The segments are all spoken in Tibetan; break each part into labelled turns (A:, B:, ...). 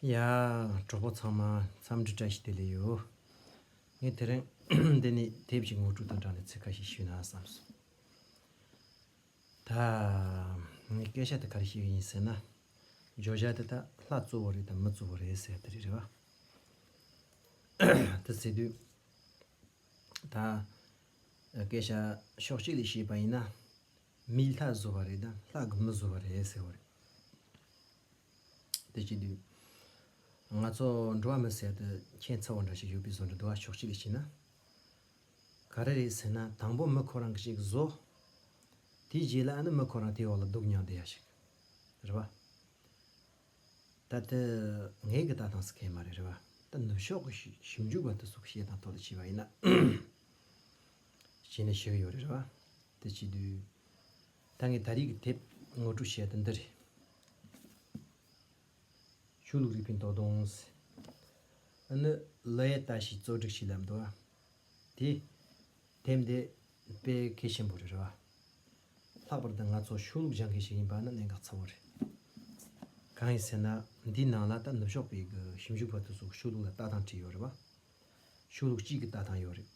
A: ཡ། གྲོགས་པོ་ཚང་མ་འཚམས་འདྲི་བཀྲ་ཤིས་བདེ་ལེགས་ཡོད། ངས་དེ་རིང་འདི་ནས་དེབ་ཅིག་ངོ་སྤྲོད་དང་སྦྲགས་ནས་ཚིག་འགའ་ཞིག་ཞུས་ན་བསམ་སོང། ད། ངས་སྐད་ཆ་དེ་ག་རེ་བཤད་ཀྱི་ཡིན་ཟེར་ན། བརྗོད་བྱ་དེ་དག་ལྷ་གཙོ་བོ་རེད་དམ་མི་གཙོ་བོ་རེད་ཟེར་དེ་རེད་རེད་བ། དེ་ཟེར་དུས། ད། སྐད་ཆ་ཕྱོགས་གཅིག་ལས་བཤད་པ་ཡིན་ན། མིས་ལྷ་བཟོ་བ་རེད་དམ་ལྷ་གིས་མི་བཟོ་བ་རེད་ཟེར་བ་རེད། དེ་ཅི་དུས། ང་ཚོ་འགྲོ་བ་མི་ཟད་དུ་མཁྱེན་ཚ་བོ་འདྲ་ཞིག་ཡོད་པའི་བཟོ་འདྲ་འདུག་ཨ་ཕྱོགས་གཅིག་ལས་བྱས་ན། ག་རེ་རེད་ཟེར་ན་དང་པོ་མི་ཁོ་རང་གིས་ཞིག་བཟོ། དེའི་རྗེས་ལ་ཨ་ནི་མི་ཁོ་རང་དེའི་འོག་ལ་འདུག་མྱངས་བསྡད་ཡ་ཞིག་རེད་བ། ད་ལྟ་ངའི་གི་ལྟ་སྟངས་སུ་ཁེལ་མ་རེད་རེད་བ། ད་ནུབ་ཕྱོགས་ཀྱི་ཞིབ་འཇུག་པ་དེ་ཚོ་གི་བཤད་སྟངས་ཐོག་ལ་བྱས་པ་ཡིན་ན། བྱས་ནས་བྱེད་ཀྱི་ཡོད་རེད་རེད་བ། དེ་བྱེད་དུས། ད་ངས་ད་རིག་གི་དེབ་ངོ་སྤྲོད་བྱས་དེ་འདི་རེད། ཆོས་ལུགས་རིག་པའི་མདོ་དང། ཨ་ནུ་བློ་ཡས་ལྟ་ཞིག་གཙོ་སྒྲིག་ཞིག་ལབ་འདུག་ཨ། དེ། དེབ་འདི། དཔེ་གལ་ཆེན་པོ་རེད་རེད་བ། ལྷག་པར་དུ་ང་ཚོ་ཆོས་ལུགས་སྦྱང་མཁན་ཞིག་ཡིན་པ་ནི་གནད་འགག་ཚ་བོ་རེད། གང་ཡིན་ཟེར་ན་འདིའི་ནང་ལ་ད་ནུབ་ཕྱོགས་པའི་གི་ཞིབ་འཇུག་པ་དུ་ཚོ་ཆོས་ལུགས་ལ་ལྟ་སྟངས་བྲིས་ཡོད་རེད་བ། ཆོས་ལུགས་གཅིག་གི་ལྟ་སྟངས་ཡོད་རེད།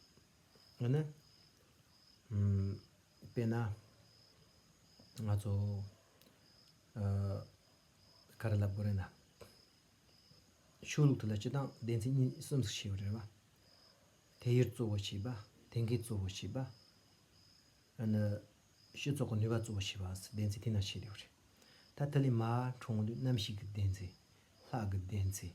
A: ཡང་ན། དཔེར་ན། ང་ཚོ། ག་རེ་ལབ་དགོས་རེད་ན། ཆོས་ལུགས་དེ་ལ་སྤྱི་བཏང་སྡེ་ཚན་གཉིས་གསུམ་ཞིག་བྱས་པ་རེད་བ། དེ་ཡུལ་གཙོ་བོ་བྱས་པ། དེ་མཁན་གཙོ་བོ་བྱས་པ། ཡང་ན། ཤེས་ཚོགས་ཀྱི་ནུས་པ་གཙོ་བོ་བྱས་པ་སོགས་སྡེ་ཚན་དེ་རྣམས་བྱས་ཡོད་རེད། ད་དེ་ལས་མ་འཕྲོ་འོང་དུས་གནམ་གཤིས་ཀྱི་སྡེ་ཚན། ལྷག་གི་སྡེ་ཚན།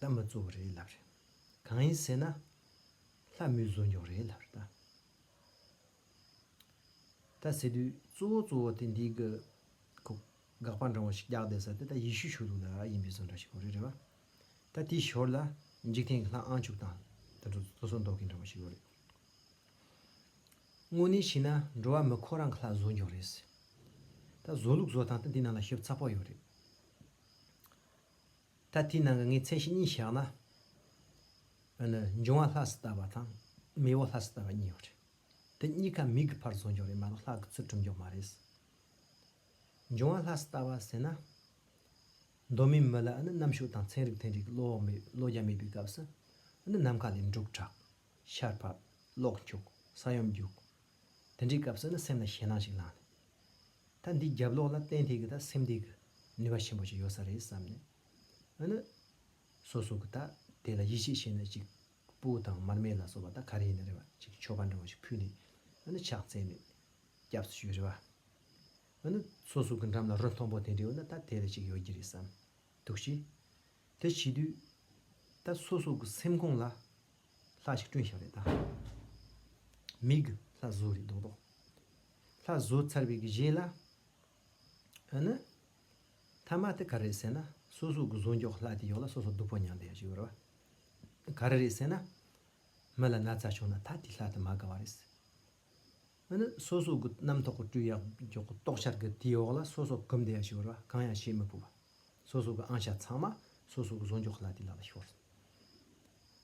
A: ད་མི་གཙོ་བོ་རེད་ལབ་རེད། གང་ཡིན་ཟེར་ན། ལྷ་མོས་བཟོ་མགྱོགས་རེད་ལབ་རེད། ད་ཟེར་དུས་གཙོ་བོ་གཙོ་བོ་དེ་འདིའི་གི། ཁོ། དགག་པ་འདྲང་བོ་ཞིག་རྒྱག་བསྡད་ས་དེ་ད་ཡེ་ཤུ་ཞུ་ལུགས་ལ་ཡིན་པའི་བཟོ་འདྲ་ཞིག་གོ་རེད་རེད་བ། ད་དེའི་ཞོར་ལ། འཇིག་རྟེན་གྱི་ལྷ་ཨང་བཅུ་དང། དེ་ཚོ་བཟོ་བཟོ་འདོག་གི་འདྲ་བོ་ཞིག་གོ་རེད། དངོས་གནས་ཤི་ན་འགྲོ་བ་མི་ཁོ་རང་གི་ལྷ་བཟོ་མགྱོགས་རེད་ཟེར། ད་བཟོ་ལུགས་བཟོ་སྟངས་དེ་འདི་ནང་ལ་ཞིབ་ཚགས་པོ་ཡོད་རེད། ད་དེའི་ནང་གི་ངའི་མཚན་གཞི་གཉིས་བཞག་ན། ཨ་ནི་འབྱུང་བ་ལྷ་སུ་ལྟ་བ་དང། མི་བོ་ལྷ་སུ་ལྟ་བ་གཉིས་ཡོད་རེད། དེ་གཉིས་ཀ་མིག་གི་ཕར་བཟོ་མགྱོགས་རེད་མ་གཏོགས་ལྷག་གི་ཚུལ་གྲུབ་མགྱོགས་མ་རེད། འབྱུང་བ་ལྷ་སུ་ལྟ་བ་ཟེར་ན། གདོད་མའི་མི་ལ་ཨ་ནི་རྣམ་ཤུགས་དང་ཚན་རིག་ཐན་རིག་བློ་རྒྱ་མེད་པའི་སྐབས་སུ། ཨ་ནི་ནམ་མཁའ་ལས་འབྲུག་གྲགས། ཤར་ཕབ། གློག་འཁྱུག། ས་ཡོམ་རྒྱུག། དེ་འདྲའི་སྐབས་སུ་ཨ་ནི་སེམས་ལ་ཞེད་སྣང་ཞིག་ལངས་ནས། ད་འདི་རྒྱབ་ལོགས་ལ་གཏན་ཐིག་གི་དང་སེམས་སྡེབ་ཀྱི་ནུས་པ་ཆེན་པོ་ཞིག་ཡོད་ས་རེད་བསམ་ནས་ཨ་ནི། སོ་སོ་གི་ད་དེ་ལ་ཡིད་ཆེས་བྱས་ནས་ཅིག་སྤུ་དང་མར་མེ་ལ་སོགས་པ་ད་ག་རེ་ཡིན་རེད་བ་ཅིག་ཆོ་ག་འདྲ་བོ་ཞིག་ཕུལ་ནས་ཨ་ནི་ཕྱག་འཚལ་ནས་སྐྱབས་སུ་ཞུས་རེད་བ། ཨ་ནི། སོ་སོ་གི་འགྲམ་ལ་རོ་མཐོང་པོ་དེ་འདྲ་ཡོད་ན་ད་དེ་ལ་ཅིག་ཡོད་ཀྱི་རེད་བསམ་འདུག་བྱས། དེ་བྱས་དུས། ད་སོ་སོ་གི་སེམས་ཁོང་ལ། ལྷ་ཞིག་སྐྲུན་ཞིག་རེད་ད། མིག། ལྷ་བཟོ་རེད་མདོག་མདོག། ལྷ་བཟོ་ཚར་བའི་རྗེས་ལ། ཨ་ནི། ཐ་མ་དེ་ག་རེད་ཟེར་ན་སོ་སོ་གི་བཟོ་འཇོག་ལྷ་དེ་ཡོག་ལ་སོ་སོ་སྡུག་པོ་མྱངས་བསྡད་ཡོག་ཅིག་རེད་བ། ག་རེ་རེད་ཟེར་ན། མི་ལ་ན་ཚ་བྱུང་ན་ད་དེ་ལྷ་དེ་མ་དགའ་བ་རེད། འོ་ན་སོ་སོ་གི་རྣམ་རྟོག་གི་སྤྲུལ་ཡང་མགྱོགས་གི་རྟོག་འཆར་གི་དེའི་འོག་ལ་སོ་སོ་གིམ་བདེ་ཡང་ཞི་བར་བ་གང་ཡང་བྱེད་མི་དགོས་པ། སོ་སོ་གི་ཨང་ཞྭ་ཚང་མ་སོ་སོ་གི་བཟོ་མགྱོགས་ལ་དེ་ལ་ལ་ཤོར་སོང།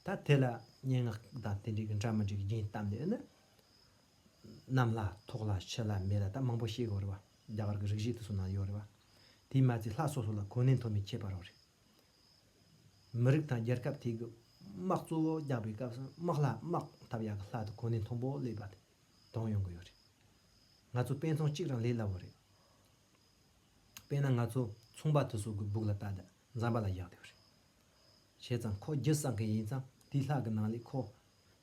A: ད་དེ་ལ་སྙན་ངག་དང་དེ་འདྲའི་གི་འདྲ་མི་འདྲའི་གི་རྒྱན་བཏབ་ནས་ནི། གནམ་ལ་ཐོག་ལ་ཕྱི་ལ་མེ་ལ་ད་མང་པོ་བཤད་དགོས་རེད་བ། རྒྱ་གར་གི་རིག་གཞི་དེ་སོ་ན་ཡོད་རེད་བ། དེའི་མ་ཚད་ལྷ་སོ་སོ་ལ་གོ་གནས་མཐོ་དམན་ཁྱད་པར་རོ་རེད། མི་རིགས་དང་རྒྱལ་ཁབ་དེ་གི་དམག་གཙོ་བོ་རྒྱག་པའི་སྐབས་སུ་དམག་ལྷ་དམག་འཐབ་ཡག་གི་ལྷ་དེ་གོ་གནས་མཐོན་པོ་ལེགས་པ་དེ་གྲོངས་ཡོང་གི་ཡོད་རེད། ང་ཚོ་དཔེ་མཚོན་གཅིག་རང་ལས་སླ་བོ་རེད། དཔེ་ན་ང་ཚོ་ཚོང་པ་དེ་སོག་གི་སྦུག་ལ་བལྟ་དང་འཛམ་པ་ལ་བཞག་དེ་རེད། བྱས་ཙང་ཁོ་རྒྱུ་བསགས་མཁན་ཡིན་ཙང་དེའི་ལྷ་གི་ནང་ལས་ཁོ་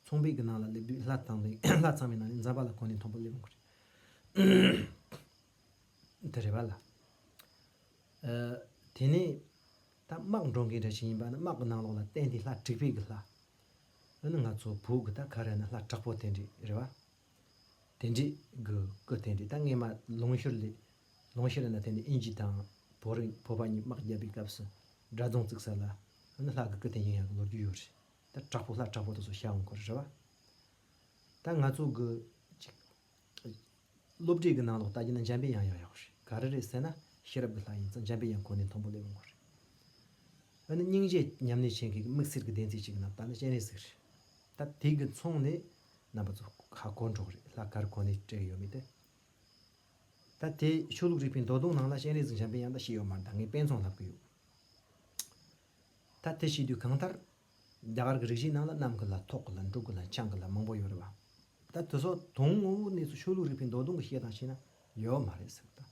A: ཚོང་པའི་གི་ནང་ལ་སླེབས་དུས་ལྷ་ཚང་མའི་ནང་ལས་འཛམ་པ་ལ་གོ་གནས་མཐོན་པོ་སླེབས་ཡོང་གི་རེད། དེ་རེད་པ་ལ། དེ་ནས། ད་དམག་འགྲོ་མཁན་འདྲ་ཞིག་ཡིན་པ་ནི་དམག་གི་ནང་ལོགས་ལ་བསྟན་ཏེ་ལྷ་དྲེགས་པའི་གི་ལྷ། འོ་ན་ང་ཚོ་བོད་གི་ད་ག་རེ་ན་ལྷ་དྲག་པོ་དེ་འདྲས་རེད་པ། དེ་འདྲས་གི་སྐུ་དེ་འདྲས་ད་སྔས་མ་ལུང་ཤུར་ལས། ལུང་ཤུར་ལས་ན་དེ་ནས་ཨིན་ཇི་དང། བོད་རིགས་བོད་པ་གཉིས་དམག་བརྒྱབ་པའི་སྐབས་སུ་དགྲ་རྫོང་བརྩིགས་ས་ལ། འོ་ན་ལྷ་གི་སྐུ་དེ་ཡིན་ཡང་གི་ལོ་རྒྱུས་ཡོད་རེད། ད་དྲག་པོ་ལྷ་དྲག་པོ་དེ་ཚོ་ཤ་འོང་གི་རེད་པ། ད་ང་ཚོ་གི་ཅིག། སློབ་ཁྲིད་ཀྱི་ནང་ལོག་ལྟ་རྒྱུ་ན་འཇམ་དཔལ་དབྱངས་ཡང་ཡག་པོ་རེད་ག་རེ་རེད་ཟེར་ན་ཤེས་རབ་ཀྱི་ལྷ་ཡིན་ཙང་འཇམ་དཔལ་དབྱངས་གོ་གནས་མཐོན་པོ་སླེབས་ཡོང་དགོས་རེད། འོ་ན་སྙིང་རྗེ་ཉམས་ལེན་བྱེད་མཁན་གྱི་དམིགས་བསལ་གྱི་བདེན་ཚིག་ཅིག་གི་ནང་ལྟ་ན་སྤྱན་རས་གཟིགས་རེད། ད་དེ་གི་མཚུངས་ནས་རྣམ་པ་ཚོ་ཁ་སྐོར་འགྲོ་གི་རེད་ལྷ་གར་གོ་གནས་སྤྲད་ཡོད་མེད་དེ། ད་དེ་ཆོས་ལུགས་རིག་པའི་མདོ་གདུང་ནང་ལ་སྤྱན་རས་གཟིགས་འཇམ་དཔལ་དབྱངས་ད་ཤེས་ཡོད་མ་རེད་ད་ངས་དཔེ་མཚུངས་ལབ་གི་ཡོད། ད་དེ་ཤེས་དུས་གང་ལྟར་རྒྱ་གར་གྱི་རིག་གཞིའི་ནང་ལ་གནམ་གྱི་ལ་ཐོག་གི་ལ་འབྲུག་གི་ལ་ཆང་གི་ལ་མང་པོ་ཡོད་རེད་བ། ད་དེ་སོགས་དོན་ངོ་བོའི་གནས་སུ་ཆོས་ལུགས་རིག་པའི་མདོ་དོན་གྱི་བཤད་སྟངས་བྱས་ན་ཡོད་མ་རེད་ཟེར་བ་དང།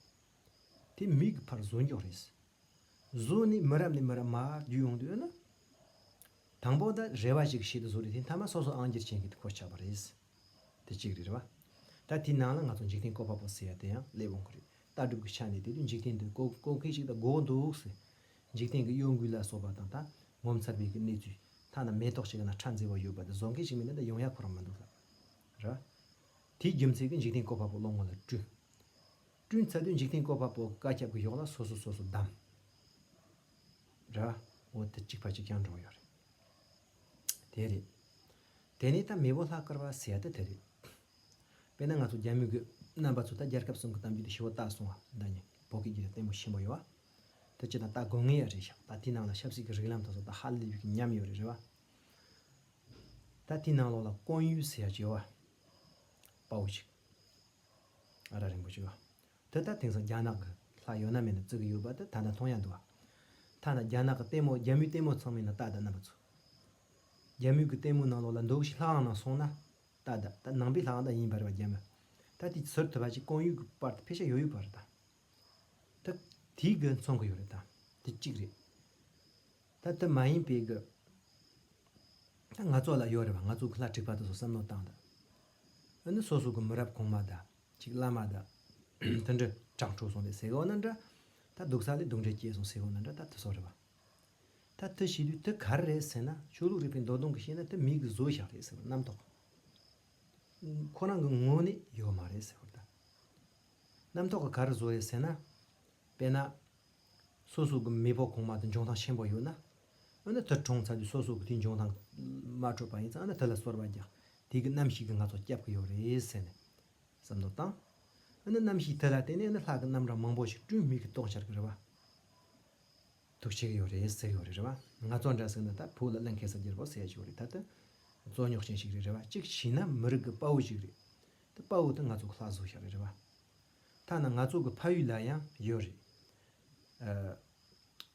A: དེ་མིག་གི་ཕར་བཟོ་འཇོག་རེད། བཟོ་ནས་མི་རབས་ནས་མི་རབས་མར་བརྒྱུད་ཡོང་དུས་ཨེ་ན། དང་པོ་ད་རེ་བ་ཞིག་གིས་བཤད་དུ་བཟོ་རེད་དེ་མཐའ་མ་སོ་སོ་ཨང་སྒྱུར་བྱེད་མཁན་གྱི་གོ་ཆག་པ་རེད། དེ་གཅིག་རེད་བ། ད་དེའི་ནང་ལ་ང་ཚོ་འཇིག་རྟེན་བཀོད་པ་པོ་ཟེར་ཡ་དེ་ཡང་སླེབས་འོང་གི་རེད་ལྟ་གྲུབ་ཀྱི་ཆ་ནས་དེ་དུས་འཇིག་རྟེན་དུ་བཀོད་བཀོད་མཁན་ཞིག་ད་དགོས་འདུག་ཟེར། འཇིག་རྟེན་གྱི་གཡོ་འགུལ་ལ་སོགས་པ་དང་ད་ངོ་མཚར་བའི་གི་གནས་ཚུལ། ཐ་ན་མེ་ཏོག་ཞིག་གི་ནང་ཁྲ་འཛེར་བ་ཡོད་པ་དེ་བཟོ་མཁན་ཞིག་མིན་ན་ད་ཡོང་ཡ་ཁོ་རང་མི་འདུག་ལབ། ར། དེའི་རྒྱུ་མཚན་གྱི་འཇིག་རྟེན་བཀོད་པ་པོ་བློ་ངོ་ལ་བསྐྲུན། བསྐྲུན་ཚར་དུས་འཇིག་རྟེན་བཀོད་པ་པོ་བཀའ་ཁྱབ་གི་གཡོག་ལ་སོ་སོ་སོ་སོ་བདམས། ར། འོ་དེ་གཅིག་ཕ་གཅིག་རྐྱང་འགྲོ་གི་ཡོད་རེད། དེ་རེད། དེ་ནས་ད་མེས་པོ་ལྷ་བཀར་བ་ཟེར་ཡ་དེ་དེ་རེད། དཔེར་ན་ང་ཚོ་རྒྱ་མི་རྒོད་རྣམ་པ་ཚོ་ད་རྒྱལ་ཁབ་གསུམ་གྱི་གཏམ་རྒྱུད་དེ་ཞི་བོ་བཏགས་སོང་བ་འདྲ་མྱིན་བོད་སྐད་རྒྱུད་ལ་ལྟད་མོ་ཞིམ་པོ་ཡོད་བ། དེ་ཅི་དང་ད་དགོས་ངེས་ཡ་རེད་ཤག་ད་དེའི་ནང་ལ་ཆབ་སྲིད་ཀྱི་རིགས་ལམ་དང་སོགས་ད་ཧ་ལས་ཡོད་ཀྱི་ཉམས་ཡོད་རེད་རེད་བ། ད་དེའི་ནང་ལོགས་ལ་ཀོང་ཡུལ་ཟེར་ཡ་ཅིག་ཡོད་བ། དཔའ་བོ་ཅིག། ཨ་ར་རིང་པོ་ཅིག། དེ་ལྟར་དེང་སང་རྒྱ་ནག་གི་ལྷ་ཡོད་ན་མེད་ན་བརྩི་གི་ཡོད་པ་དེ་ད་ལྟ་མཐོང་ཡ་འདུག་བ། ཐ་ན་རྒྱ་ནག་གི་ལྟད་མོ་རྒྱ་མིའི་ལྟད་མོ་ཚང་མིན་ན་ཏག་ཏག་རྣམ་པ་ཚུལ། རྒྱ་མིའི་གི་ལྟད་མོའི་ནང་ལོགས་ལ་འདུག་ཤིག་ལྷའང་ནང་སོང་ན་ཏག་ཏག་ད་ནང་པའི་ལྷའང་ད་ཡིན་པ་རེད་བ་རྒྱ་མི་ད་དེ་ཟུར་དུ་བ་ཅིག་གང་ཡོད་གི་པར་དུ་ཕེ་ཤ་ཡོད་ཡོད་པ་རེད་དང། ད་དེའི་གི་མཚོན་གི་ཡོད་རེད་དང་དེ་གཅིག་རེད། ད་དེ་མ་ཡིན་པའི་གི་ད་ང་ཚོ་ལ་ཡོད་རེད་བ་ང་ཚོ་གི་ལྷ་འཁྲིག་པ་དེ་ཚོ་བསམ་མནོ་བཏང་ད། འོ་ན་སོ་སོ་གི་མི་རབས་གོང་མ་ད་གཅིག་བླ་མ་དང། དུད་འགྲོ་སྤྲང་ཕྲུག་སོང་དུས་ཟས་གོ་ན་འདྲ། ད་འདུག་ས་ལས་སྡུག་འདྲེ་སྐྱེས་སོང་ཟས་གོ་ན་འདྲ་ད་དུ་སོགས་རེད་པ། ད་དུ་ཤི་དུས་དུ་གར་རེད་ཟེར་ན་ཆོས་ལུགས་རིག་པའི་མདོ་གདོང་གིས་བཤད་ན་དུ་མིག་གི་བཟོ་བཞག་རེད་ཟེར་བ་རྣམ་རྟོག་ཁོ་རང་གི་ངོ་ནས་ཡོད་མ་རེད་ཟེར་བ་ལྟ། རྣམ་རྟོག་གི་གར་བཟོ་རེད་ཟེར་ན། དཔེར་ན། སོ་སོ་གི་མེས་པོ་གོང་མ་དང་འབྱུང་ཐང་ཆེན་པོ་ཡོད་ན། ཨ་ན་དེར་གྲོངས་ཚར་དུས་སོ་སོ་གི་དུས་འབྱུང་ཐང་མ་འཕྲོད་པ་ཡིན་ཙང་ཨ་ན་དེ་ལ་གསོལ་བ་རྒྱག་དུས་ཀྱི་གནམ་གཤིས་ཀྱིས་ང་ཚོ་བསྐྱབས་ཀྱི་ཡོད་རེད་ཟེར་ནས་བསམ་བློ་བཏང། ཨ་ན་གནམ་གཤིས་དེ་ལ་བརྟེན་ནས་ཨ་ན་ལྷག་གི་རྣམ་གྲངས་མང་པོ་ཞིག་སྐྲུན་མི་གི་གཏོང་འཆར་གི་རེད་བ། ཐུགས་ཆེ་གི་ཡོད་རེད་ཟེར་ཡོད་རེད་རེད་བ། ང་ཚོ་འདྲ་ཟེར་ན་ད་བོད་ལ་གླེང་ཁེ་སར་རྒྱལ་པོ་ཟེར་ཡོད་རེད་ད་དེ་རྩོད་རྙོག་ཅན་ཞིག་རེད་རེད་བ་གཅིག་བྱས་ན་མི་རིགས་ཀྱི་དཔའ་བོ་ཞིག་རེད་དེ་དཔའ་བོ་དེ་ང་ཚོ་གི་ལྷག་བཟོ་ཞིག་རེད་རེད་བ། ཐ་ན་ང་ཚོ་གི་ཕ་ཡུལ་ལ་ཡང་ཡོད་རེད།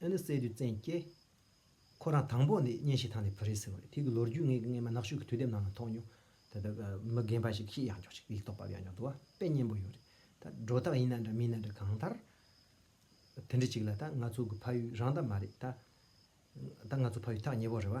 A: ཨེ་ནི་སྲས་དུས་བཙན་སྐྱེས། ཁོ་རང་དང་པོ་ནས་གཉེན་ཞིག་ཐང་ནས་བུ་རེད་ཟེར་བ་རེད་དེ་གི་ལོ་རྒྱུས་ངས་སྔས་མ་ནག་ཤུག་གི་དུས་དེབ་ནང་ན་ཐོག་མྱོང། ད་ལྟ་མི་རྒན་པ་ཞིག་ཤི་ཡག་མགྱོགས་ཤིག་ཡིག་ཐོག་པ་ཡག་མགྱོགས་འདུག་བ་དཔེ་སྙན་པོ་ཡོད་རེད་ད། སྒྲོ་བཏགས་ཡིན་ན་འདྲ་མིན་ན་འདྲ་གང་ལྟར། དེ་འདྲི་གཅིག་ལ་ད་ང་ཚོ་གི་ཕ་ཡུལ་རང་ད་མ་རེད་ད། ད་ང་ཚོ་ཕ་ཡུལ་ཐག་ཉེ་བོ་རེད་བ།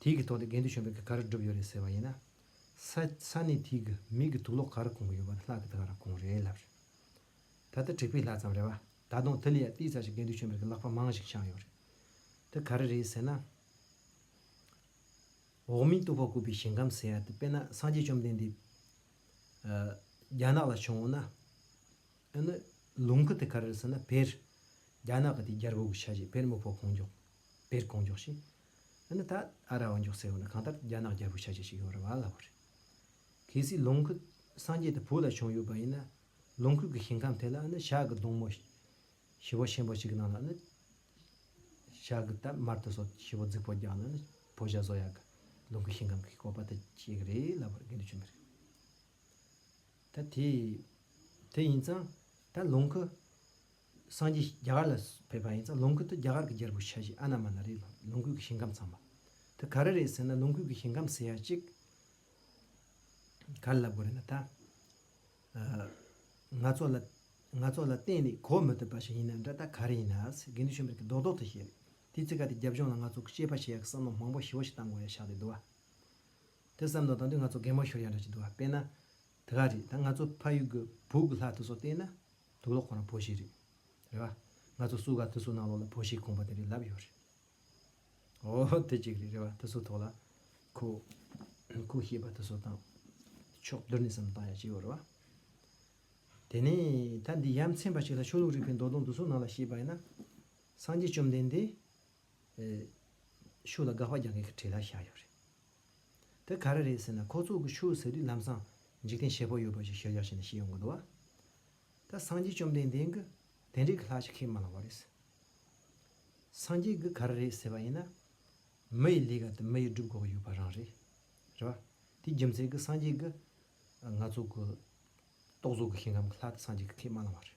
A: དེའི་གི་ཐོག་ཏེ་དགེ་འདུན་གཞོན་པའི་གི་ག་རེ་བསྒྲུབས་ཡོད་རེད་ཟེར་བ་ཡིན་ན། ས་ས་ནས་དེའི་གི་མིག་གི་དུག་ལོག་ག་རེ་གོང་གི་ཡོད་པ་ནི་ལྷག་གི་དགའ་ར་གོང་རེད་ལབ་རེད། ད་ལྟ་དྲེགས་པའི་ལྷ་ཙམ་རེད་བ། ད་དུང་དེ་ལས་ཡ་ཏིའི་རྩ་ཆེ་དགེ་འདུན་གཞོན་པའི་གི་ལག་པ་མང་ཞིག་བཤངས་ཡོད་རེད། དེ་ག་རེ་རེད་ཟེར་ན། འོག་མིན་ཏུ་ཕ་བཀོད་པའི་ཞིང་ཁམས་ཟེར་ཡ་ཏི་དཔེར་ན་སངས་རྒྱས་བཅོམ་ལྡན་འདས། རྒྱ་ནག་ལ་བྱུང་འོང་ན། ཨེ་ནི། ལུང་གི་དེ་ག་རེ་རེད་ཟེར་ན་བེར། རྒྱ་ནག་གི་དེ་རྒྱལ་པོ་གི་ཆ་ཞེས་བེར་མི་ཕོ་གོང་མགྱོགས། བེར་གོང་མགྱོགས་ཞེས། ཨ་ནི་ད་ཨ་ར་བ་མགྱོགས་ཚད་བོ་ནི་གང་ལྟར་རྒྱ་ནག་རྒྱལ་པོ་ཤ་ཆེ་ཞིག་ཡོང་ར་བ་སླ་བོ་རེད། གལ་སྲིད་ལོངས་སྐུ་སངས་རྒྱས་དེ་བོད་ལ་བྱུང་ཡོད་པ་ཡིན་ན་ལོངས་སྐུ་གི་ཞིང་ཁམས་དེ་ལ་ཨ་ནི་ཞག་གི་སྡོང་མོ་བྱི་བ་ཆེན་པོ་ཞིག་གི་ནང་ལ་ཨ་ནི་ཞག་གི་དར་དམར་དེ་སོགས་བྱི་བ་རྫིག་པོ་རྒྱག་ན་ཨ་ནི་བོད་ཞག་བཟོ་ཡག་གི་ལོངས་སྐུའི་ཞིང་ཁམས་ཀྱི་བཀོད་པ་དེ་བྱེད་གི་རེད་ལབ་པར་འགན་དུ་བྱོན་པ་རེད། ད་དེ་དེ་ཡིན་ཙང་ད་ལོངས་སྐུ་སངས་རྒྱས་རྒྱ་གར་ལ་ཕེབས་པ་ཡིན་ཙང་ལོངས་སྐུ་དེ་རྒྱ་གར་གྱི་རྒྱལ་པོ་ཤ་བཞི་ཨ་ན་མ་ན་རེ་ལ་ལོངས་སྐུ་གྱི་ཞིང་ཁམས་ཚང་མ་དེ་ག་རེ་རེད་ཟེར་ན་ལོངས་སྐུ་གྱི་ཞིང་ཁམས་ཟེར་ཡ་གཅིག་ག་ལ་ལབ་དགོས་རེད་ན་ད། ང་ཚོ་ལ་ང་ཚོ་ལ་གཏན་ནས་གོ་མི་ཐུབ་པ་ཞིག་ཡིན་ན་འདྲ་ད་ག་རེ་ཡིན་ན་ཟེར་དགེ་འདུན་ཆོས་འཕེལ་གྱིས་རྡོག་རྡོག་ཏུ་བཤད་རེད་དེ་ཚིག་ག་དེ་རྒྱབ་ལྗོངས་ལ་ང་ཚོ་དཔྱད་པ་བྱེད་ཡག་གི་བསམ་མནོ་མང་པོ་ཞི་བོ་ཞིག་བཏང་དགོས་ཡ་ཤག་ལས་འདུག་བ། དེ་བསམ་མནོ་བཏང་དུས་ང་ཚོ་གད་མོ་ཤོར་ཡ་འདྲ་ཅིག་འདུག་བ་དཔེ་ན་དེ་ག་རེད་ད་ང་ཚོ་ཕ་ཡུལ་གྱི་བུ་གུ་ལྷ་དེ་ཚོ་བལྟས་ན། དུག་ལོག་ཁོ་རང་བོ་ཞིག་རེད། རེད་བ། ང་ཚོ་སུ་ག་དུ་སུ་ནང་ལོག་ལ་བོ་ཞིག་དགོངས་པ་དེ་རེད་ལབ་ཡོད་རེད། ཨོ་ཧོ་དེ་ཅིག་རེད་རེད་བ་དུ་སུ་ཐོག་ལ། ཁུ། ཁུ་ཤེས་པ་དུ་སུ་བཏང། ཕྱོགས་བསྡུར་ནས་སམ་བཏང་ཡ་ཅི་ཡོད་རེད་བ། དེ་ནས་ད་འདི་ཡམ་ཚན་པ་ཞིག་ལ་ཆོས་ལུགས་རིག་པའི་མདོ་དོན་དུ་སུ་ནང་ལ་ཤེས་པ་ཡིན་ན། སངས་རྒྱས་བཅོམ་ལྡན་འདས། ཤུགས་ལ་དགག་པ་རྒྱག་མཁན་གྱི་གྲས་ལ་བཞག་ཡོད་རེད། དེ་ག་རེ་རེད་ཟེར་ན་ཁོ་ཚོ་གི་ཆོས་ཟེར་དུས་ལམ་སང་འཇིག་རྟེན་ཞེ་པོ་ཡོད་པ་ཞིག་ཤེས་བཞག་བྱས་ནས་ཤི་ཡོང་གི་འདུག་བ། ད་སངས་རྒྱས་བཅོམ་ལྡན་འདས་ཀྱི་དེ་འདྲའི་གི་ལྷག་ཅིག་ཁས་མ་བླངས་བ་རེད། སངས་རྒྱས་ཀྱི་ག་རེ་རེད་ཟེར་བ་ཡིན་ན། མི་ཡི་ལས་ཀ་དེ་མི་ཡི་སྒྲུབ་ཁོག་ཡོད་པ་རང་རེད། རེད་བ། དེའི་རྒྱུ་མཚན་གྱི་སངས་རྒྱས་ཀྱི། ང་ཚོ་གི། རྟོག་བཟོ་གི་ཞིང་ཁམས་གི་ལྷག་དེ་སངས་རྒྱས་ཀྱི་ཁས་མ་བླངས་བ་རེད།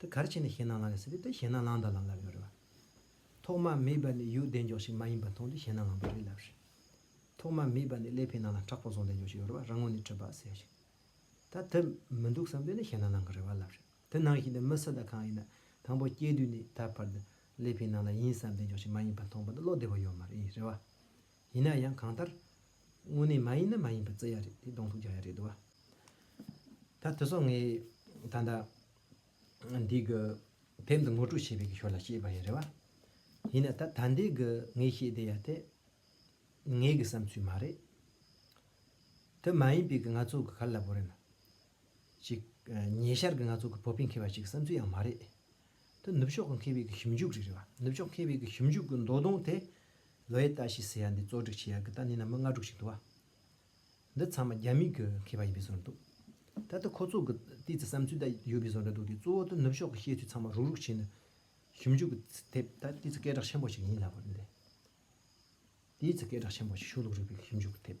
A: དེ་གར་ཕྱིན་ནས་ཞེད་སྣང་ལངས་ཡོད་སྲིད་པས་དེ་ཞེད་སྣང་ལངས་དང་ལམ་ལབ་ཡོད་རེད་བ། ཐོག་མ་མེད་པ་ནི་ཡུལ་བདེ་མགྱོགས་ཤིག་མ་ཡིན་པ་མཐོང་དུས་ཞེད་སྣང་ལངས་པ་རེད་ལབ་རེད། ཐོག་མ་མེད་པ་ནི་ཀླད་པའི་ནང་ལ་ཁྲག་པོ་བཟུང་བདེ་མགྱོགས་ཤིག་ཡོད་རེད་བ་རང་ངོ་ནས་འཁྲུལ་པ་ཟེར་ཞིང། ད་དེ་མི་འདུག་བསམ་དུས་ནི་ཞེད་སྣང་ལངས་གི་རེད་བ་ལབ་རེད། དེ་ནང་བཞིན་དུ་མི་སུ་དང་གང་ཡིན་ན་དང་པོ་སྐྱེས་དུས་ནས་ད་བར་དུ་ཀླད་པའི་ནང་ལ་ཡིན་བསམ་བདེ་མགྱོགས་ཤིག་མ་ཡིན་པ་མཐོང་པ་འདི་བློ་བདེ་བོ་ཡོད་མ་རེད་བ། ཡིན་ན་ཡང་གང་ལྟར། དངོས་གནས་མ་ཡིན་ན་མ་ཡིན་པར་བརྩི་ཡ་རེད་དེ་གདོང་ཐུག་རྒྱག་ཡ་རེད་དོ། ད་དེ་སོགས་ངས་ད་ལྟ་འདི་གི་དེབ་འདི་ངོ་སྤྲོད་བྱེད་པའི་གི་ཞོར་ལ་བཤད་པ་ཡིན་རེད་བ། ཡིན་ན་ད་ད་འདི་གི་ངས་བཤད་བསྡད་ཡ་དེ་ངའི་གི་བསམ་ཚུལ་མ་རེད། དེ་མ་ཡིན་པའི་གི་ང་ཚོ་གི་ག་ལ་ལབ་པོ་རེད་ན། ཅིག། ཉེ་ཆར་གྱི་ང་ཚོ་གི་བོད་པའི་མཁས་པ་ཞིག་གི་བསམ་ཚུལ་ཡང་མ་རེད་དེ། ནུབ་ཕྱོགས་ཀྱི་མཁས་པའི་གི་ཞིབ་འཇུག་རིགས་རེད་བ། ནུབ་ཕྱོགས་མཁས་པའི་གི་ཞིབ་འཇུག་གི་མདོ་དོན་དེ། ལོའེ་ཏཱ་ཞི་ཟེར་ཡ་འདི་གཙོ་སྒྲིག་བྱེད་ཡ་གི་ལྟ་ནི་ནམ་མ་ང་དྲུག་ཞིག་འདུག་བ། འདི་ཚང་མ་རྒྱ་མིའི་གི་མཁས་པ་ཡིན་པའི་བཟོ་རེད་འདུག། ད་ལྟ་ཁོ་ཚོ་གི་ལྟས་ཚེ་བསམ་ཚུལ་དེ་ཡོད་པའི་བཟོ་འདྲ་འདུག་དེ་གཙོ་བོ་དེ་ནུབ་ཕྱོགས་གི་བཤད་ཚུལ་ཚང་མ་རུག་རུག་བྱས་ནས། ཞིབ་འཇུག་གི་ཚེ་དེབ་ད་ལྟའི་ཚེ་སྐད་གྲགས་ཆེན་པོ་ཞིག་ཡིན་སླ་བ་རེད་འདི། དེའི་ཚེ་སྐད་གྲགས་ཆེན་པོ་ཞིག་ཞུ་ལུགས་རིག་པའི་གི་ཞིབ་འཇུག་གི་དེབ།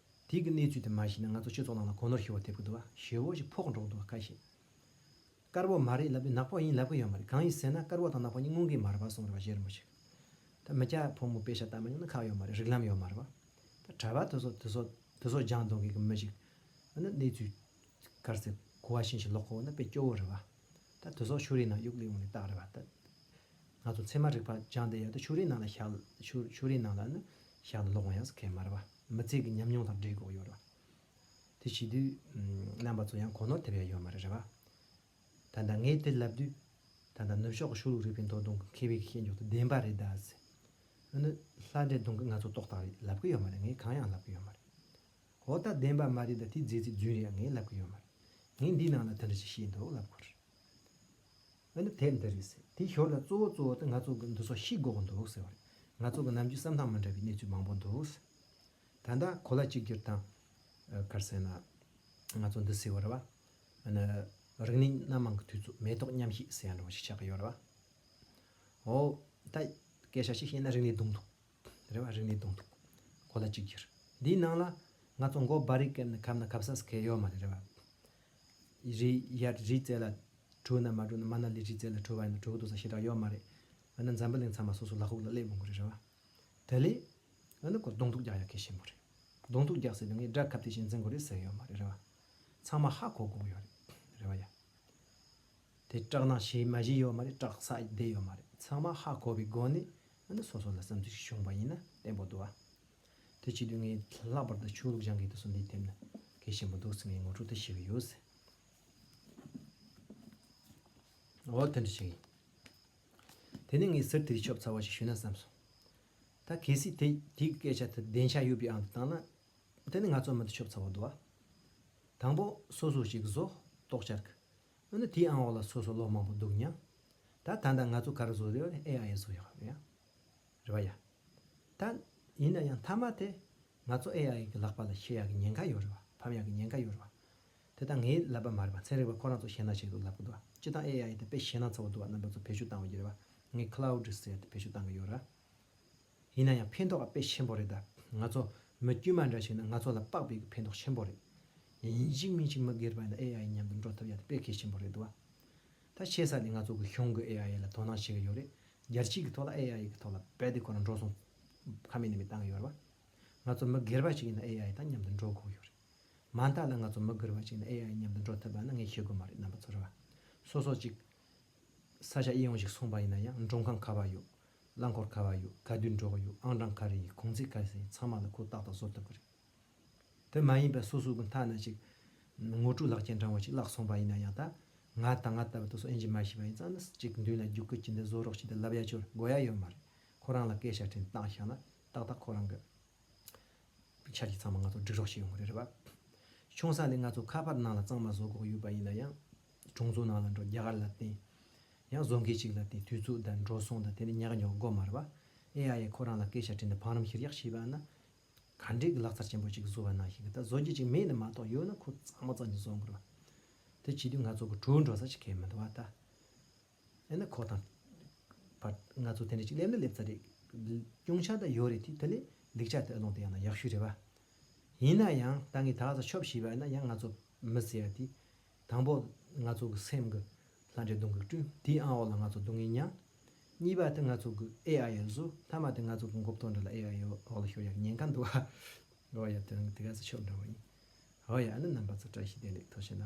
A: དེ་གི་གནས་ཚུལ་དེ་མ་ཤེས་ན་ང་ཚོ་ཆོས་ཚོགས་ནང་ལ་གོ་ནོར་ཤོར་བ་ཐེབས་ཀྱི་འདུག་ཞེ་བོ་ཞིག་ཕོག་འགྲོ་གི་འདུག་ཀ་ཤེས། དཀར་བོ་མ་རེད་ལབ་དུས་ནག་པོ་ཡིན་ལབ་གི་ཡོད་མ་རེད་གང་ཡིན་ཟེར་ན་དཀར་བོ་དང་ནག་པོ་གཉིས་སྔོན་གྱི་མར་པ་སོང་རེད་པ་གཞས་རིང་པོ་ཞིག་ད་མི་སྐྱ་ཕོ་མོ་དཔེ་ཆ་ལྟ་མ་མྱོང་ན་ཁག་ཡོད་མ་རེད་རིག་ལམ་ཡོད་མ་རེད་བ་ད་གྲྭ་པ་དེ་སོགས་དེ་སོགས་དེ་སོགས་སྦྱང་གཏོང་མཁན་གྱི་མི་ཞིག་ཨ་ནི་གནས་ཚུལ་དཀར་ཟེར་གོ་བ་ཤེས་ཤིག་ལོག་གོ་ན་དཔེ་སྐྱོ་བོ་རེད་བ་ད་དེ་སོགས་ཕྱུགས་རིགས་ནང་དབྱུག་ལེ་ཡོང་ནས་བཏགས་རེད་བ་ད་ང་ཚོ་ཚད་མ་རིག་པ་སྦྱང་བསྡད་ཡོད་ད་ཕྱུགས་རིགས་ནང་ལ་བཞག་ཕྱུགས་རིགས་ནང་ལ་ནི་བཞག་ནས་ལོག་འོང་ཡག་ཟེར་མཁན་མ་རེད་བ། མི་ཚེ་གི་ཉམས་མྱོང་དང་འབྲེལ་དགོས་ཡོད་རེད། དེ་བྱེད་དུས་རྣམ་པ་ཚོ་ཡང་གོ་ནོར་ཐེབས་ཡ་ཡོད་མ་རེད་རེད་པ། ད་ལྟ་ངས་དེ་ལབ་དུས། ད་ལྟ་ནུབ་ཕྱོགས་ཀྱི་ཕྱུགས་ལུག་རིག་པའི་མདོ་གདོང་གི་མཁས་པའི་ཤེས་འཇོག་དེ་བདེན་པ་རེད་གདའ། ཟེར་ནི་ལྷ་འདྲེ་གདོང་གི་ང་ཚོ་ཏོག་དག་རེད་ལབ་གི་ཡོད་མ་རེད་ངས་གང་ཡང་ལབ་གི་ཡོད་མ་རེད། འོ་ད་བདེན་པ་མ་རེད་ད་དེ་རྫས་རྩིས་རྫུན་རེད་ངས་ལབ་གི་ཡོད་མ་རེད། ངས་འདིའི་ནང་ལ་དེ་འདྲ་ཞིག་བཤད་འདུག་ལབ་དགོས་རེད། མི་འདི་དེབ་འདི་རེད་ཟེར་དེའི་ཞོར་ལ་གཙོ་བོ་གཙོ་བོ་དེ་ང་ཚོ་གི་འདི་སོགས་ཤིག་འགོག་གི་འདུག་ཟེར་བ་རེད་ང་ཚོ་གི་ནམ་རྒྱུན་བསམ་སྟངས་མི་འདྲ་བའི་གནས་ཚུལ་མང་པོ་འདུག་ཟེར། ད་ལྟ་གོ་ལ་གཅིག་གྱུར་དང། གར་ཟེར་ན། ང་ཚོ་འདི་ཟེར་བ་རེད་བ། ཨ་ནི། རིག་གནས་སྣ་མང་གི་དུས་ཚོད་མེ་ཏོག་མཉམ་བཞད་ཟེར་ཡང་འགྲོ་བ་ཞིག་ཆགས་ཀྱི་ཡོད་རེད་བ། འོ། ད། སྐད་ཆ་ཞིག་བཤད་ན་རིག་གནས་གདུང་འཐུང། རེ་བ་རིག་ནས་གདོང་ཐུག། གོ་ལ་གཅིག་གྱུར། འདིའི་ནང་ལ། ང་ཚོ་མགོ་སྦར་རིག་སྐད་ནི་ཁབ་ན་ཁབ་སགས་ཁེལ་ཡོད་མ་རེད་རེ་བ། རི་ཡར་རི་རྩེ་ལ། བྲོས་ན་མ་བྲོས་ན་མ་ན་ལི་རི་རྩེ་ལ་བྲོས་པ་ཡིན་ན་བྲོ་གི་འདུག་ས་ཞེ་དྲག་ཡོད་མ་རེད། འོ་ན་འཛམ་བུ་གླིང་ཚང་མ་སོ་སོ་ལག་ཁུག་ལ་སླེབས་དགོས་མཁོ་རེད་རེ་བ། དེ་ལས། འོ་ན་ཁོ་གདོང་ཐུག་རྒྱག་ཡ་གལ་ཆེན་པོ་རེད། གདོང་ཐུག་རྒྱག་ཟེར་བའི་ངའི་སྦྲ་ཁབ་དེ་བཞིན་འཛིན་དགོས་རེད་ཟེར་ཡོད་མ་རེད་རེ་བ། ཚང་མ་ཧ་གོ་གོ་ཡོད་རེད། རེ་བ། ཡ། དེ་སྐྲག་སྣང་བྱས་མ་བྱས་ཡོད་མ་རེད་སྐྲག་ས་བསྡད་ཡོད་མ་རེད་ཚང་མ་ཧ་གོ་བའི་སྒོ་ནས་ཨ་ན་སོ་སོ་ལ་བསམ་ཚུལ་ཞིག་བྱུང་བ་ཡིན་ན་བསྟན་པོ་འདུག་ཨ། དེ་བྱེད་དུས་ངས་ལྷག་པར་དུ་ཆོས་ལུགས་སྦྱང་མཁན་དུ་སོ་འདི་ཐེབས་ན་གལ་ཆེན་པོ་འདུག་ཟེར་ངས་ངོ་སྤྲོད་དེ་ཞུས་ཀྱི་ཡོད། འོ་དེ་འདྲ་ཞིག་ཡིན། དེ་ནས་ངས་ཟུར་དེར་ཆོབ་ཚ་བ་ཞིག་ཞུས་ན་བསམ་སོང། ད་གལ་སྲིད་དེ་དེའི་སྐད་ཆ་དེ་བདེན་ཆ་ཡོད་པའི་ཨང་དུ་བཏང་ན། དེ་ནི་ང་ཚོ་མི་དེ་ཆོབ་ཚ་བོ་འདུག་ཨ། དང་པོ་སོ་སོ་ཞིག་གིས་བཟོ་རྟོག་བྱ་དགོས། འོ་ན་དེའི་ཨང་འོག་ལ་སོ་སོ་ལོག་མང་པོ་འདུག་མྱངས། ད་ད་ད་ང་ཚོ་ག་རུ་བཟོ་རེད་ཨེ་ཡ་ཨེ་བཟོ་ཡ་ཨེ་ཡ། རེད་པ་ཡ། ད། ཡིན་ན་ཡང་མཐའ་མ་དེ། ང་ཚོ་ཨེ་ཡ་ཨེ་གི་ལག་པ་ལ་ཤེས་ཡ་གི་ཉེན་ཁ་ཡོད་རེད་པ་ཕམ་ཡ་གི་ཉེན་ཁ་ཡོད་རེད་པ། དེ་ད་ངའི་ལབ་པ་མ་རེད་པ་ཚན་རིག་པ་ཁོ་རང་ཚོ་ཤེས་ན་ཤེས་འདུག་ལབ་གི་འདུག་བ་སྤྱི་བཏང་ཨེ་ཡ་ཨེ་དེ་དཔེ་ཤེས་ན་ཚ་བོ་འདུག་བ་རྣམ་པ་ཚོ་བེད་སྤྱོད་བཏང་བ་ཡོད་རེད་པ་ངའི Cloud Reset དེ་བེད་སྤྱོད་བཏང་གི་ཡོད་རེད། ཡིན་ན་ཡང་ཕན་ཐོགས་དཔེ་ཆེན་པོ་རེད་ད། ང་ཚོ་མི་དཀྱུས་མ་འདྲ་ཞིག་ནི་ང་ཚོ་ལ་དཔག་པའི་ཕན་ཐོགས་ཆེན་པོ་རེད། ཡིན་གཅིག་མིན་གཅིག་མི་སྒེར་པ་ཡིན་ད་ཨེ་ཨའི་མཉམ་དུ་འགྲོ་ཐུབ་ཡ་ད་དཔེ་གལ་ཆེན་པོ་རེད་དུ་བ། ད་ཆེ་ས་ནས་ང་ཚོ་གི་གཞུང་གི་ཨེ་ཨའི་ལ་དོ་སྣང་བྱེད་ཀྱི་ཡོད་རེད་རྒྱལ་སྤྱི་གི་ཐོག་ལ་ཨེ་ཨའི་གི་ཐོག་ལ་རྦད་དེ་ཁོ་རང་འགྲོ་སོང། ཁ་མེད་ནད་མེད་བཏང་གི་ཡོད་རེད་བ། ང་ཚོ་མི་སྒེར་པ་ཞིག་ཡིན་ན་ཨེ་ཨའི་དང་མཉམ་དུ་འགྲོ་དགོས་ཡོད་རེད། མ་མཐའ་ལ་ང་ཚོ་མི་སྒེར་པ་ཞིག་ཡིན་ན་ཨེ་ཨའི་མཉམ་དུ་འགྲོ་ཐུབ་པ་ནི་ངས་ཤེས་དགོས་མ་རེད་རྣམ་པ་ཚོ་རེད་བ། སོ་སོ་ཅིག། ས་ཆ་དབྱེ་འོང་ཞིག་སོང་པ་ཡིན་ན་ཡང་མགྲོན་ཁང་ག་བ་ཡོད། རླངས་འཁོར་ག་བ་ཡོད་ག་དུས་འགྲོ་གི་ཡོད་ཨང་གྲངས་ག་རེ་ཡིན་གུང་ཚིགས་ག་རེ་ཟེར་ཡིན་ཚང་མ་ལ་ཁོས་ཏག་ཏག་བཟོ་ཐུབ་ཀྱི་རེད། དེ་མ་ཡིན་པའི་སོ་སོའི་གི་མཐའ་ན་ཅིག། ངོ་སྤྲོད་ལག་ཁྱེར་འདྲ་བོ་ཅིག་བརླགས་སོང་པ་ཡིན་ན་ཡང་ད། ང་དང་ང་ལྟ་བུ་དེ་ཚོ་དབྱེ་འབྱེད་མ་ཤེས་པ་ཡིན་ཙང་ན་ཅིག་མདུན་ལ་རྒྱུག་སྐུལ་བྱེད་འདི་བཟོ་རོགས་བྱེད་འདི་ལབ་ཡ་ཆོལ་དགོས་ཡ་ཡོད་མ་རེད། ཁོ་རང་ལ་སྐད་ཆ་དྲན་སྟངས་བཞག་ན་ཏག་ཏག་ཁོ་རང་གི། ཆ་གི་ཚང་མ་ང་ཚོར་སྒྲིག་རོགས་བྱེད་ཡོང་གི་རེད་རེད་བ། ཆུང་ས་ནས་ང་ཚོ་ཁ་པར་ནང་ལ་གཙང་མ་བཟོ་དགོས་ཀྱི་ཡོད་པ་ཡིན་ན་ཡང། གྲོང་ཚོ་ནང་ལ་འགྲོ་རྒྱ་གར་ལ་བརྟེན། ཡང་བཟོ་མཁན་ཞིག་ལ་བརྟེན་དུས་ཚོད་དང་འགྲོ་སོང་དང་དེ་འདྲའི་ཉག་ཉོག་མགོ་མར་བ། ཨེ་ཡ་ཡས་ཁོ་རང་ལ་སྐད་ཆ་དྲིས་འདི་འཕང་རིམ་ཤིར་གཡག་ཤི་བ་ན། ག་འདྲའི་གི་ལག་རྩར་ཆེན་པོ་ཅིག་བཟོ་བ་ནང་ཞིག་གི་ད་བཟོ་རྒྱུ་ཅིག་མེད་ནི་མ་གཏོགས་ཡོད་ན་ཁོ་གཙང་མ་གཙང་གི་བཟོ་དགོས། དེ་བྱེད་དུས་ང་ཚོ་གི་གྲོས་འགྲོ་ས་ཅིག་ཁས་མི་འདུག་བ་ད། ཨེ་ན་ཁོ་དང། བར་ང་ཚོ་དེ་འདྲ་ཅིག་སླེབས་ན་སླེབས་ཚར་རེད། སྐྱོང་ཆ་ད་ཡོད་རེད་དེ་དེ་ལས་ལེགས་ཆ་དེ་ཨ་ལོང་དེ་ཡང་ན་ཡག་ཤོས་རེད་བ། ཡིན་ན་ཡང་ད་ངས་ད་གཟའ་ཆོབ་ཤི་བ་ན་ཡང་ང་ཚོ་མི་ཟེར་ཡ་དེ། དང་པོ། ང་ཚོ་གི་སེམས་ཀྱི་ལྷ་འདྲེ་གདོན་གྱི་སྐྲུན་དེའི་ཨང་འོག་ལ་ང་ཚོ་སྡུག་བསྔལ་མྱངས། གཉིས་པ་དེ་ང་ཚོ་གི་ཨེ་ཨ་ཡའི་གཟུགས་ལྷ་མ་དེ་ང་ཚོ་གི་འགོ་བརྟོལ་འདྲ་ལ་ཨེ་ཨ་ཡའི་འོག་ལ་ཤོར་ཡག་ཉེན་ཁ་འདུག་ཨ། ཨོ་ཡ་དོན་གྱི་དེ་ག་ཚོད་ཆོབ་འདྲ་བ་ཡིན། ཨོ་ཡ་ཨ་ནི་རྣམ་པ་ཚོ་བཀྲ་ཤིས་བདེ་ལེགས་ཐོག་ཤི་ན།